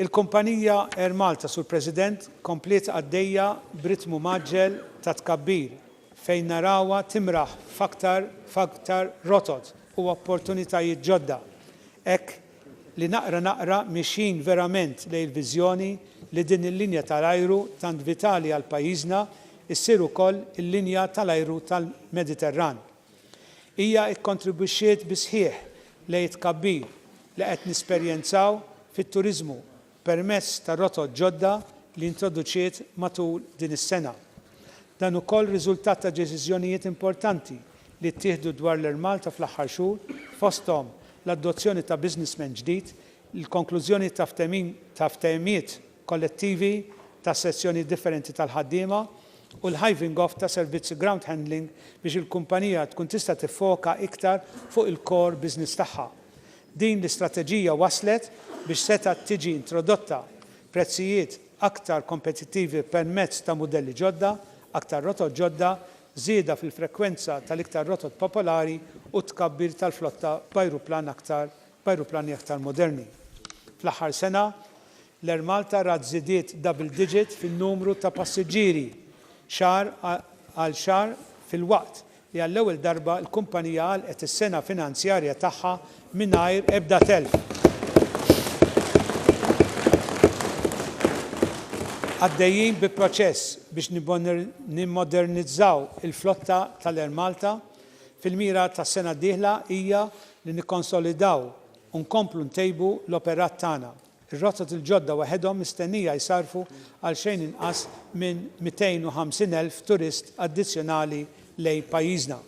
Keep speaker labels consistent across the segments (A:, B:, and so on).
A: Il-kumpanija Air Malta, Sur President, kompliet għaddejja b'ritmu mgħaġġel ta' tkabbir fejn narawha timraħ f'aktar f'aktar rotot u opportunitajiet ġodda hekk li naqra naqra miexjin verament lejn il-viżjoni li din il-linja tal-ajru tant vitali għal pajjiżna ssir ukoll il-linja tal-ajru tal-Mediterran. Hija kkontribwixxiet bis-sħiħ lejn it-tkabbir li qed nesperjenzaw fit-turiżmu, permezz ta' rotot ġodda li introduċiet matul din is-sena. Dan ukoll riżultat ta' deċiżjonijiet importanti li ttieħdu dwar l-Air Malta fl-aħħar xhur, fosthom l-adozzjoni ta' businessman ġdid, il-konklużjoni ta' ftehim ta' ftehimiet kollettivi ta' sezzjonijiet differenti tal-ħaddiema u l-hiving off ta' servizzi ground handling biex il-kumpanija tkun tista' tiffoka iktar fuq il-core business tagħha. Din l-istrateġija wasslet biex setgħet tiġi introdotta prezzijiet aktar kompetittivi permezz ta' mudelli ġodda, aktar rotot ġodda, żieda fil-frekwenza tal-iktar rotot popolari u t-tkabbir tal-flotta b'ajruplan aktar b'ajruplani aktar moderni. Fl-aħħar sena, l-Air Malta rat żidiet double digit fin-numru ta' passiġġieri xahar għal xahar filwaqt li għall-ewwel darba l-kumpanija għalqet is-sena finanzjarja tagħha mingħajr ebda telf. Għaddejjin bi proċess biex nimmodernizzaw il-flotta tal-Air Malta, fil-mira tas-sena d-dieħla hija li nikkonsolidaw u nkomplu ntejbu l-operat tagħna. Ir-rotot il-ġodda waħedhom mistennija jsarrfu għal xejn inqas minn 250,000 turist addizzjonali lejn pajjiżna.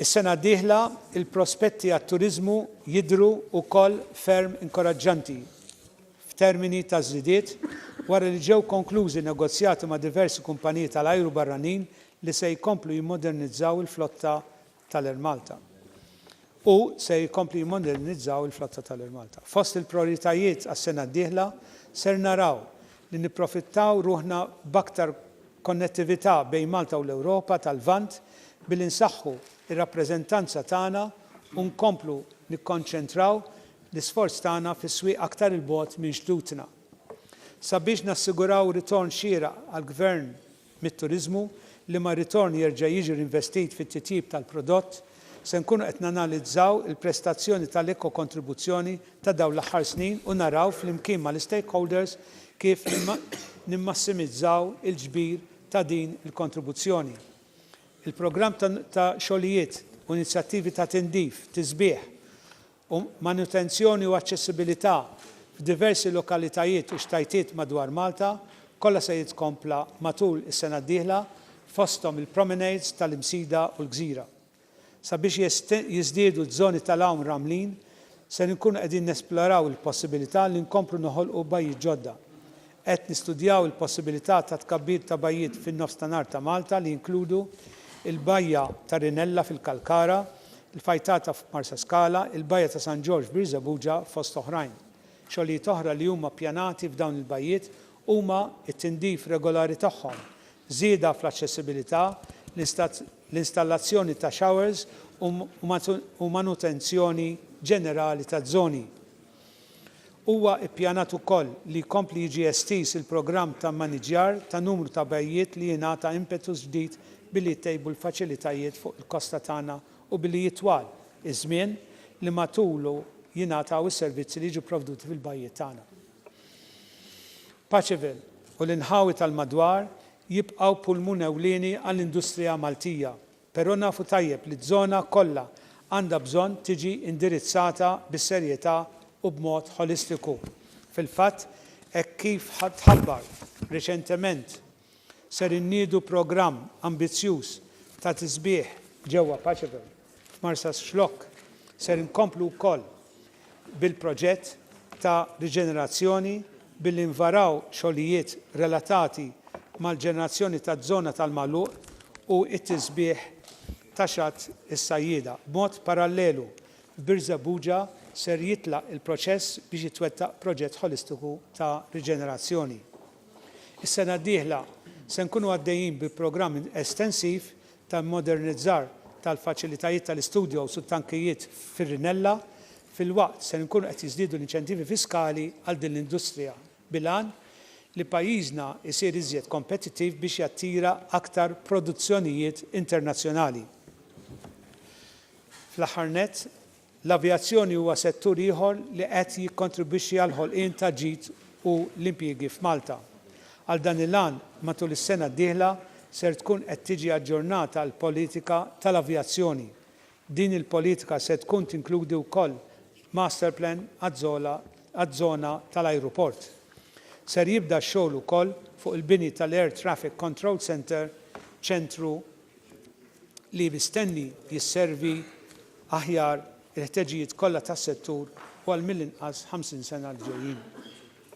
A: Is-sena d-dieħla, il-prospetti għat-turiżmu jidhru wkoll ferm inkoraġġanti f'termini ta' żidiet wara li ġew konklużi negozjati ma' diversi kumpaniji tal-ajru barranin li se jkomplu jimmodernizzaw il-flotta tal-Air Malta u se jkompli jimmodernizzaw il-flotta tal-Air Malta. Fost il-prijoritajiet għas-sena d-dieħla ser naraw li nipprofittaw ruħna b'aktar konnettività bejn Malta u l-Ewropa tal-Lvant billi nsaħħu r-rappreżentanza tagħna u nkomplu nikkonċentraw l-isforz tagħna fi swieq aktar 'il bogħod minn xtutna. Sabiex nassiguraw ritorn xieraq għall-Gvern mit-turiżmu, liema ritorn jerġa' jiġi rinvestit fit-titjib tal-prodott, se nkunu qed nanalizzaw il-prestazzjoni tal-ekokontribuzzjoni ta' dawn l-aħħar snin u naraw flimkien mal-istakeholders kif nimmassimizzaw il-ġbir ta' din il-kontribuzzjoni. Il-programm ta' xogħlijiet u inizjattivi ta' tindif, tisbiħ u manutenzjoni u aċċessibilità f'diversi lokalitajiet u xtajtiet madwar Malta, kollha se jitkompla matul is-sena d-dieħla, fosthom il-promenades tal-Imsida u l-Gżira. Sabiex jiżdiedu ż-żoni tal-għawm ramlin, ser inkunu qegħdin nesploraw il-possibilità li nkomplu noħolqu bajjiet ġodda. Qed nistudjaw il-possibilità ta' tkabbir ta' bajjiet fin-Nofs ta' Nagħar ta' Malta li jinkludu l-Bajja ta' Rinella fil-Kalkara, l-Fajtata f'Marsaskala, il-Bajja ta' San Ġorġ f'Birżebbuġa fost oħrajn. Xogħlijiet oħra li huma ppjanati f'dawn il-bajjiet huma t-tindif regolari tagħhom, żieda fl-aċċessibilità, l-installazzjoni ta' showers u manutenzjoni ġenerali taż-żoni. Huwa ppjanat ukoll li jkompli jiġi estiż il-programm ta' mmaniġġjar ta' numru ta' bajjiet li jingħata impetus ġdid billi jittejbu l-faċilitajiet fuq il-kosta tagħna u billi jitwal iż-żmien li matulu jingħataw is-servizzi li jiġu pprovduti fil-bajjiet tagħna. Paċeville u l-inħawi tal-madwar jibqgħu pulmun ewlieni għall-industrija Maltija Però nafu tajjeb li ż-żona kollha għandha bżonn tiġi indirizzata bis-serjetà u b'mod ħolistiku. Fil-fatt, hekk kif tħabbar riċentement, ser inniedu programm ambizzjuż ta' tisbiħ ġewwa Paceville, f'Marsaxlokk. Ser inkomplu wkoll bil-proġett ta' riġenerazzjoni billi nvaraw xogħlijiet relatati mal-ġenerazzjoni taż-żona tal-magħluq u t-tisbiħ ta' Xatt is-Sajjieda. B'mod parallelu, f'Birżebbuġa ser jitlaq il-proċess biex jitwettaq proġett ħolistiku ta' riġenerazzjoni. Is-sena d-dieħla se nkunu għaddejjin bi programm estensiv ta' immodernizzar tal-faċilitajiet tal-istudjos u t-tankijiet fir-Rinella, filwaqt ser inkunu qed jiżdiedu l-inċentivi fiskali għal din l-industrija bil-għan li pajjiżna jsir iżjed kompetittiv biex jattira aktar produzzjonijiet internazzjonali. Fl-aħħar nett, L-avjazzjoni huwa settur ieħor li qed jikkontribwixxi għall-ħolqien ta' ġid u l-impjiegi f'Malta. Għal dan il-għan, matul is-sena d-dieħla ser tkun qed tiġi aġġornata l-politika tal-avjazzjoni. Din il-politika se tkun tinkludi wkoll masterplan għaż-żona tal-ajruport. Ser jibda x-xogħol ukoll fuq il-bini tal-Air Traffic Control Centre, ċentru li mistenni jisservi aħjar il-ħteġijiet kollha tas-settur u għal mill-inqas 50 sena 'l ġejjin.